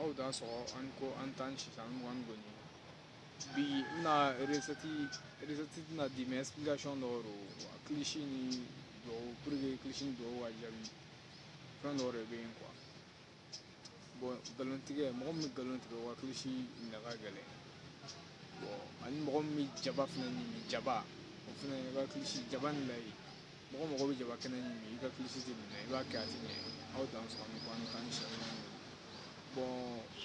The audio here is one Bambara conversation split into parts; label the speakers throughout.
Speaker 1: aw dansɔgɔ an ko an tan sisan mugan ni kɔni bi n bɛna resɛti tɛna di mɛ ɛsipilikasiyɔn dɔrɔn kilisi ni dɔw puruke kilisi ni dɔw ka jaabi fɛn dɔw de bɛ yen kuwa bɔn nkalon tigɛ mɔgɔ min bɛ nkalon tigɛ a ka kilisi minɛ ka gɛlɛn bɔn ani mɔgɔ min bɛ jaba fana ɲimi jaba o fana ka kilisi jaba ni layi mɔgɔ mɔgɔ bɛ jaba kɛnɛ ɲimi i ka kilisi tɛ minɛ i b'a kɛ a tɛ ɲɛ aw dansɔgɔ an ko an tan si bɔn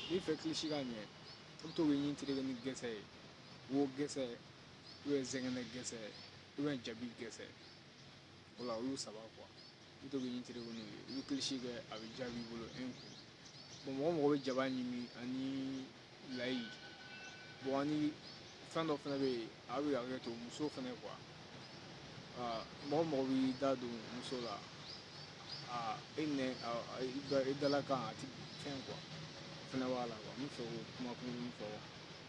Speaker 1: n'i fɛ kilisi ka ɲɛ i bɛ to k'i ɲin tereke ni gɛsɛ ye wo gɛsɛ ubiyɛn zɛgɛnɛ gɛsɛ ubiyɛn jabi gɛsɛ wala olu saba kuwa i bɛ to k'i ɲin tereke n'u ye i bɛ kilisi kɛ a bɛ jaabi i bolo e kun bɔn mɔgɔ mɔgɔ bɛ jaba ɲimi ani layi bɔn ani fɛn dɔ fana bɛ yen a bɛ hakɛ to muso fana kuwa mɔgɔ mɔgɔ b'i da don muso la e nɛ i dala kan a ti fɛn kuwa fana b'a la kuwa n bɛ fɛ k'o kuma kunkurunnin fɔ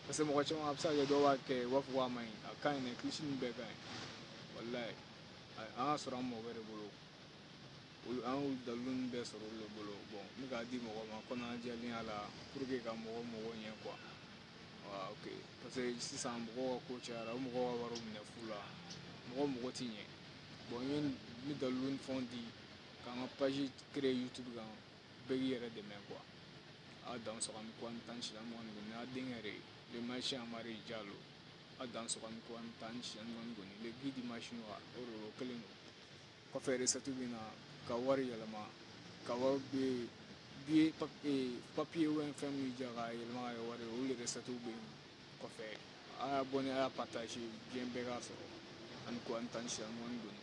Speaker 1: parce que mɔgɔ caman a bɛ se ka kɛ dɔw b'a kɛ u b'a fɔ k'a man ɲi a ka ɲi dɛ kilisi ninnu bɛɛ ka ɲi walayi an k'a sɔrɔ an mɔgɔ bɛrɛ bolo an dalilu bɛ sɔrɔ olu bolo bɔn n k'a di mɔgɔ ma kɔnɔjɛya la pour que ka mɔgɔ mago ɲɛ kuwa parce que sisan mɔgɔ ko cayara mɔgɔ wari minɛ fu la mɔgɔ mago tɛ ɲɛ bɔn ye ni dalilu ni fɛn di k'an ka pazi kere yutubi kan bɛɛ y'i yɛrɛ dɛmɛ kuwa aw dansɔgɔ an ko an tan si an mɔgɔ kɔni n'a denkɛ yɛrɛ ye masina amari jalo aw dansɔgɔ an ko an tan si an mɔgɔ kɔni bi di masina o kelen don kɔfɛ resɛti bɛ na ka wari yɛlɛma ka wari bɛ yen biye papiye wɛn fɛn min jɛ ka yɛlɛma ka kɛ wari ye olu resɛti bɛ yen kɔfɛ a ye abɔne a y'a pataje diɲɛ bɛɛ k'a sɔrɔ an ko an tan si an mɔgɔ kɔni